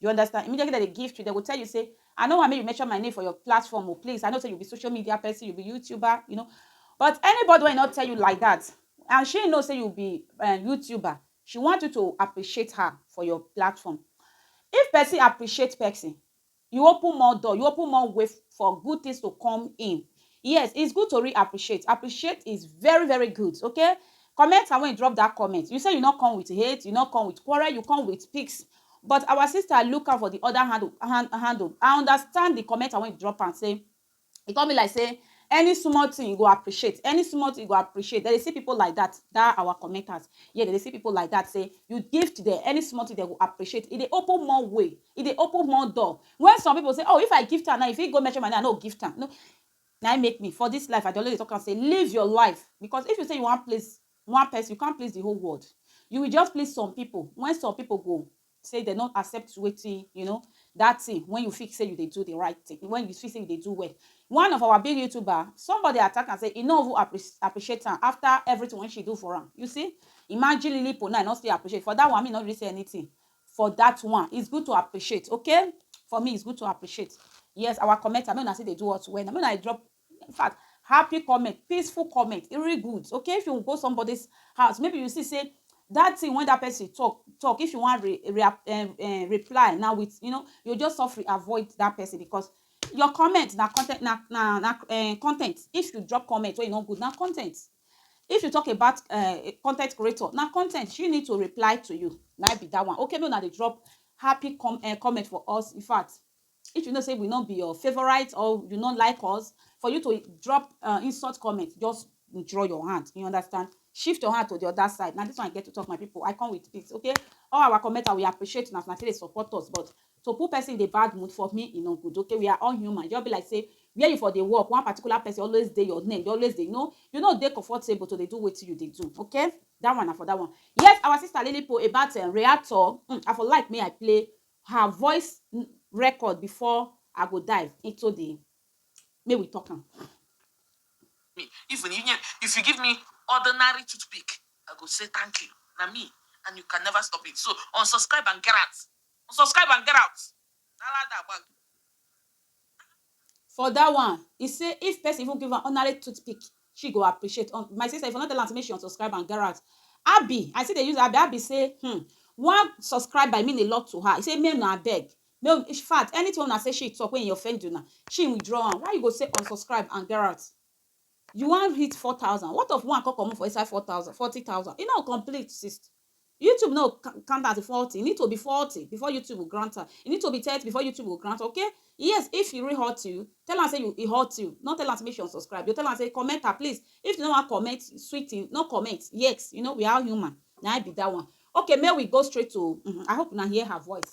You understand? Immediately dem dey gift you, dem go tell you say, I no want make you mention my name for your platform o, please, I know say you be social media person, you be YouTuber, you know, but anybody wey e no tell you like that and she know say you be um YouTuber, she want you to appreciate her for your platform. If person appreciate person, you open more door, you open more way for good things to come in. Yes it's good to re appreciate appreciate is very very good okay comment and when you drop that comment you say you not come with hate you not come with quarrel you come with pics but our sister look out for the other hand hand handle I understand the comment and when you drop and say e come be like say any small thing you go appreciate any small thing you go appreciate dem dey see people like that that our commenters yeah dem dey see people like that say you gift them any small thing they go appreciate e dey open more way e dey open more door Wen some pipo say, Oh, if I gift am now, e fit go mention my name, I no go gift am. No. Na im make me, for dis life, I dey always dey tok am say, Live your life. Bicos if you say you wan please one pesin, you can't please di whole world. You will just please some pipo, wen some pipo go say dem no accept wetin you know, dat tin wen you feel say you dey do di right tin, wen you feel say you dey do well. One of our big YouTuber, somebody attack am say e no even apprec appreciate am afta evritin wen she do for am. You see! Imagine Lilly Pon now, e no still appreciate. For dat one, me no really say anytin. for that one it's good to appreciate okay for me it's good to appreciate yes our commenter make una still dey do us well na make una dey drop in fact happy comment peaceful comment e really good okay if you go somebody's house maybe you see say that thing when that person talk talk if you wan re, re, um, uh, reply now with you know you just suffer avoid that person because your comment na content na na na uh, content if you drop comment wey e no good na content If you talk about um con ten t creator, na con ten t she need to reply to you, na im be dat one. Okay make una dey drop happy com um comment for us. In fact, if you know sey we no be your favourite or you no like us, for you to drop um insult comment, just withdraw your hand, you understand? Shift your hand to de other side. Na dis one I get to talk my pipu. I come with peace okay. All our commenter, we appreciate una as una take dey support us but To put person in a bad mood for me e no good okay we are all human e just be like say where you for dey work one particular person always dey your neck dey always dey you know you no dey comfortable to dey do wetin you dey do okay that one na for that one. Yes our sister lilipo about um reactor um I for like make I play her voice record before I go dive into the make we talk am. me even inye if you give me ordinary toothpick I go say thank you na me and you can never stop it so unsubscribe and gerat. Unsubscribe and get out. Dala da gbag. For that one, he say if person even give am ordinary toothpick, she go appreciate. Um, my sister, if you no tell am say make she unsubscribe and get out. Abi, I still dey use Abi. Abi say, hmm, one subscribe by mean a lot to her. He say, make una abeg. No, in fact, anything una say she talk when he offend una, she withdraw am. Why you go say unsubscribe and get out? You wan hit four thousand what of one come comot for inside four thousand forty thousand e no complete sis YouTube no count am as forty e need to be forty before YouTube go grant am e need to be thirty before YouTube go grant okay yes if e really hurt you tell am say you e hurt you no tell am say make she unsubscribe you tell am say comment am please if you no wan comment sweet thing no comment yes you know we are human na im be that one okay make we go straight to um I hope una hear her voice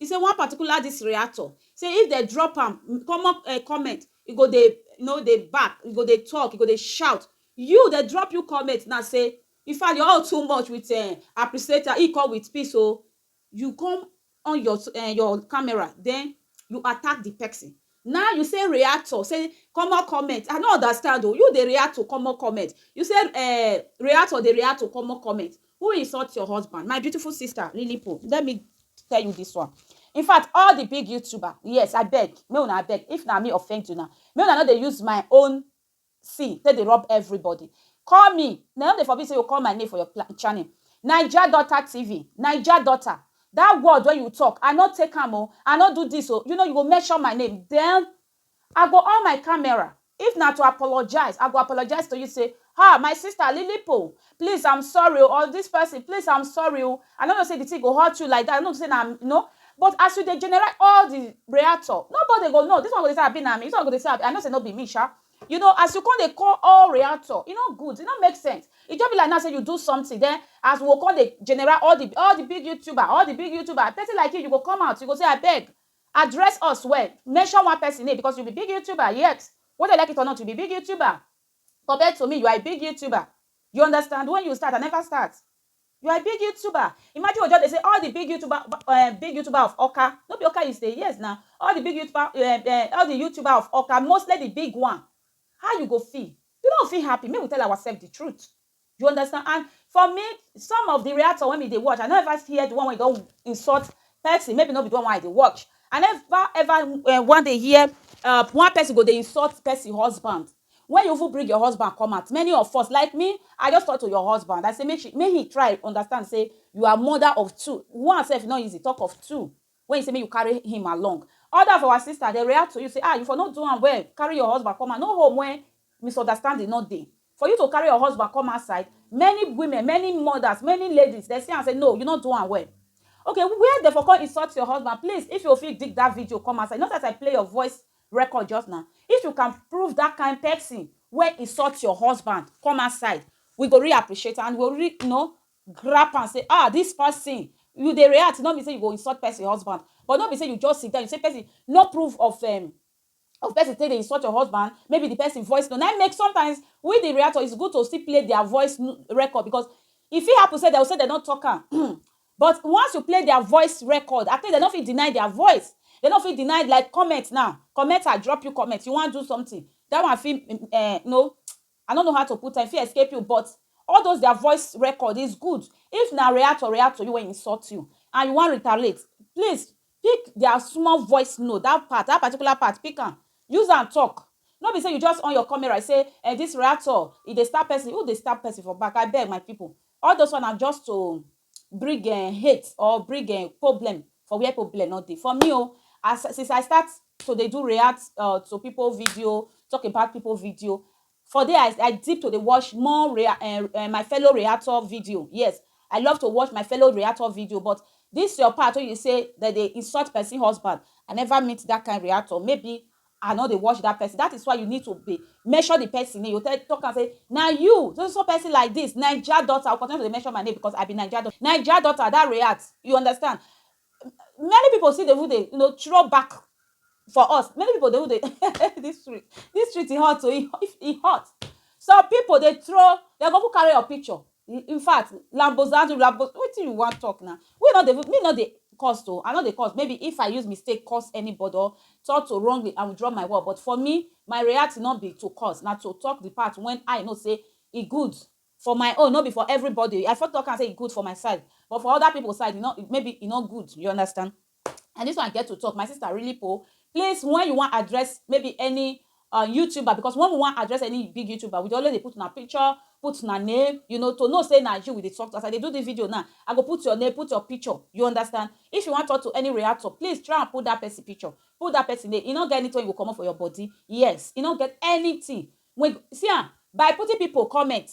E say one particular dis reactor say if dem drop am common comment e go dey you know dey bark, e go dey talk, e go dey shout. You dem drop you comment now say in fact your own too much with um appreciator e come with peace oo. You come on your um your camera den you attack the person. Now you say reactor say common comment I no understand o you dey react to common comment you say um reactor dey react to common comment who insult your husband my beautiful sister Lilipo let me tell you this one infact all the big youtuber yes abeg make una abeg if na me offend una make una no dey use my own see take dey rob everybody call me na no dey forbid say you call my name for your pla channel naija daughter TV naija daughter that word wey you talk I no take am oo I no do this oo you know you go mention my name then I go on my camera if na to apologize I go apologize to you say ha my sister lilipo please I'm sorry o or this person please I'm sorry o I no know say the thing go hurt you like that I no know say na you know but as you dey generate all the reactor nobody go know this one go dey say abi na me this one go dey say abi I know say no be me sha you know as you come dey call all reactor e no good e no make sense e just be like now say you do something then as we go come dey general all the all the big youtuber all the big youtuber person like you you go come out you go say abeg address us well mention one person name because you be big youtuber yes whether you like it or not you be big youtuber Compared to me you are a big youtuber you understand when you start I never start you are a big youtuber imagine you just dey say all the big youtuber um, big youtuber of Awka no be Awka you stay yes na all the big youtuber um, um, all the youtuber of Awka mostly the big one how you go feel you no fit happy make we tell ourselves the truth. You understand? And for me, some of the reactor when me they watch, I don't ever hear the one when don't insult person. Maybe not be the one why they watch. I never ever uh, one day hear uh, one person go they insult person husband. When you even bring your husband come out, many of us like me, I just talk to your husband. I say make she, make he try understand. Say you are mother of two. One self not easy. Talk of two. When you say make you carry him along. Other of our sister dey react to you say ah you for no do am well carry your husband come out no home when misunderstanding no dey for you to carry your husband come outside many women many mothers many ladies dey see am say no you no do am well ok where dey for come insult your husband please if you fit dig that video come outside you know say as I play your voice record just now if you can prove that kind person wey insult your husband come outside we go really appreciate am and we go really know grab am say ah this person you dey react no mean say you go insult person husband but no be say you just sit down you say person no proof of um, of person take dey insult your husband maybe the person voice no na im make sometimes we the reactor is good to still play their voice record because e fit happen say dem go say dem no talk am but once you play their voice record at least dem no fit deny their voice dem no fit deny like comment now commenter drop you comment you wan do something that one fit um, no I no know how to put am, e fit escape you but all those their voice record is good, if na reactor react to you wey insult you and you wan retaliate please pick their small voice note that part, that particular part pick am use am talk no be say you just on your camera say eh this reactor e dey stab person, who dey stab person for back abeg my people all those one na just to bring um hate or bring um problem for where problem no dey. For me o, as since I start to dey do react um to people video, talk about people video, for there I I dip to dey watch more re um um my fellow reactor video. Yes, I love to watch my fellow reactor video but dis your part wey you sey dem dey insult pesin husband, I never meet dat kain reactor. Maybe I no dey watch that person that is why you need to be mention the person name you tell talk am say na you so so so person like this naija daughter you go continue to dey mention my name because I be naija daughter naija daughter that react you understand many people still dey even dey you know throw back for us many people dey even dey this street this street e hot oo e hot some people dey throw dem go even carry your picture In fact lambozando lambo wetin you wan talk na we no dey even me no dey curse o I no dey curse maybe if I use mistake curse anybody or talk to wrongly I withdraw my word but for me my react no be to curse na to talk the part when I know say e good for my own no be for everybody I fit talk am say e good for my side but for other people side e no maybe e no good you understand. and this one get to talk my sister really po please when you wan address maybe any uh, youtuber because when we wan address any big youtuber we dey always dey put una picture put una name you know to know say na you we dey talk to as i dey do this video now i go put your name put your picture you understand if you wan talk to any reactor please try and put that person picture put that person name e no get anything wey go comot for your body yes e no get anything wey see am by putting people comment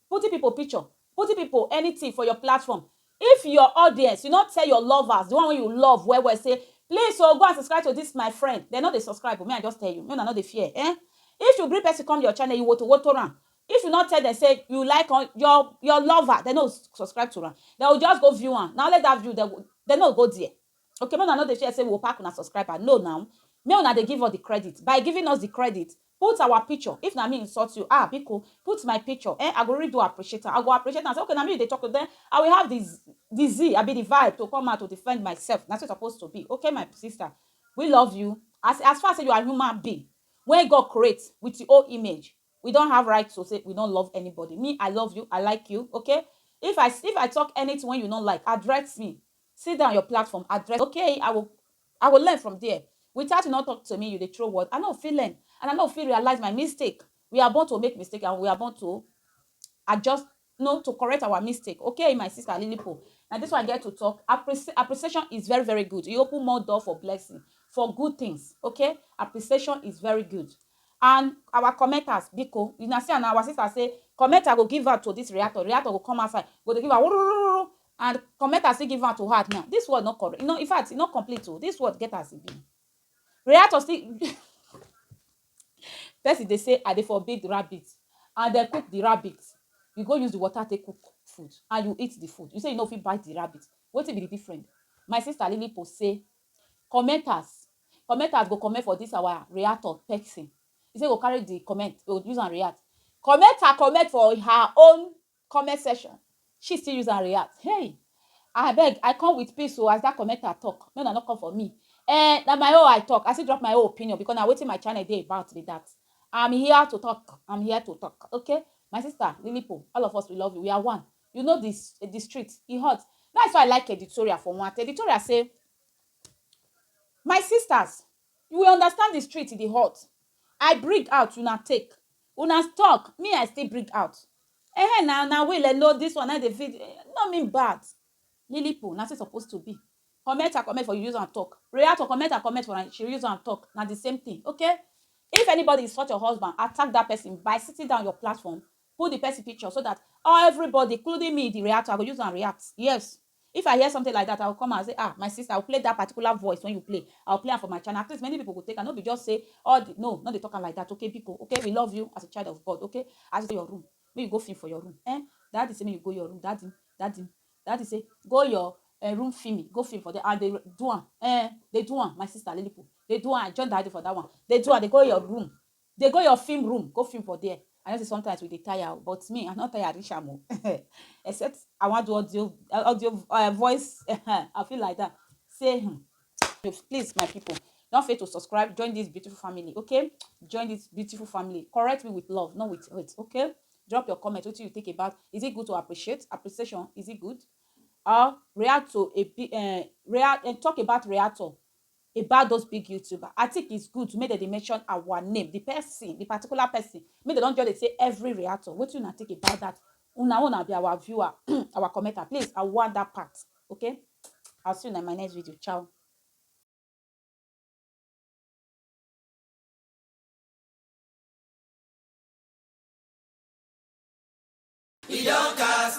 Putting people picture, putting people anything for your platform, if your audience, you no tell your lovers, the one wey you love well well say, please o, go and subscribe to this my friend, dem no dey subscribe o, me I just tell you, make una no dey fear eh, if you bring person come your channel, you woto woto am, if you no tell dem say you like am, your your lover, dem no go subscribe to am, dem go just go view am, na only that view dem go, dem no go go there, okay, make una no dey fear say we go pack una subscriber, no na, make una dey give us the credit, by giving us the credit, Put our picture if na me insult you ah biko put my picture eh I go really do appreciate am I go appreciate am say okay na me you dey talk to then I will have the the zee abi the vibe to come out to defend myself na so e suppose to be okay my sister we love you as as far say you are human being wey God create with him own image we don't have right to say we don't love anybody me I love you I like you okay if I if I talk anything wey you no like address me sit down your platform address okay I will I go learn from there. Without you no talk to me, you dey throw word, I no fit learn and I no fit realize my mistake. We are born to make mistake and we are born to adjust no to correct our mistake okay my sister Lilipo na this one get to talk Appreci appreciation is very very good e open more door for blessing for good things okay appreciation is very good and our commenters biko una see and our sister say commenter go give out to this reactor reactor go come outside go dey give out And comment as he give am to her now. This word not correct. No, in fact, e not complete o. Oh. This word get as e be. Reactor still person dey say I dey for big rabbit and dem cook the rabbit. You go use the water take cook food and you eat the food. You say you no fit bite the rabbit. Wetin be the difference? My sister Lily post say commenters commenters go comment for this our reactor person. He say go carry the comment, go use and react. Commenter comment for her own Comment section, she still use am react, hey! Abeg, I come with peace o as that commenter talk, make una no come for me. Eh, na my own I talk, I still drop my own opinion because na wetin my channel dey about be that. I'm here to talk, I'm here to talk, okay? My sister, Lilipo, all of us we love you, we are one. You know the, the street, e hot. That's why I like editorial for one. Editorial say, My sisters, you will understand the street, e dey hot. I bring out, una take. Una talk me I still bring out Ehen na, na we le know this one na dey feed No mean bad Lilipo na so e suppose to be Comment I comment for you use am talk Reactor comment I comment for she use am talk Na the same thing ok If anybody insult your husband attack that person by sitting down your platform put the person picture so that everybody including me the reactor I go use am react Yes If I hear something like that, I will come out and say, ah, my sister, I will play that particular voice when you play. I will play am for my channel. At least many people go take am. No be just say all the no, no dey talk am like that. Okay, biko. Okay, we love you as a child of God. Okay, as you go your room, make you go film for your room. Eh? Daddy say make you go your room. Daddy, daddy, daddy say go your uh, room film me, go film for there. And they do am. Eh? They do am. My sister Lilipo, they do am. I join daddy for that one. They do am. They go your room. Dey go your film room go film for there I know say sometimes we dey tire o but me I no tire reach am o except I wan do audio audio uh, voice I feel like that say hmm, please my people no fail to subscribe join this beautiful family okay join this beautiful family correct me with love not with hate okay drop your comment wetin you think about is it good to appreciate appreciation is it good or react to a uh, react and eh, talk about reactor about those big youtuber i think it's good make dem dey mention our name the person the particular person make dem don just dey say every reactor wetin una think about that una own abi our viewer our commenter please i want that part okay i'll see you in my next video ciao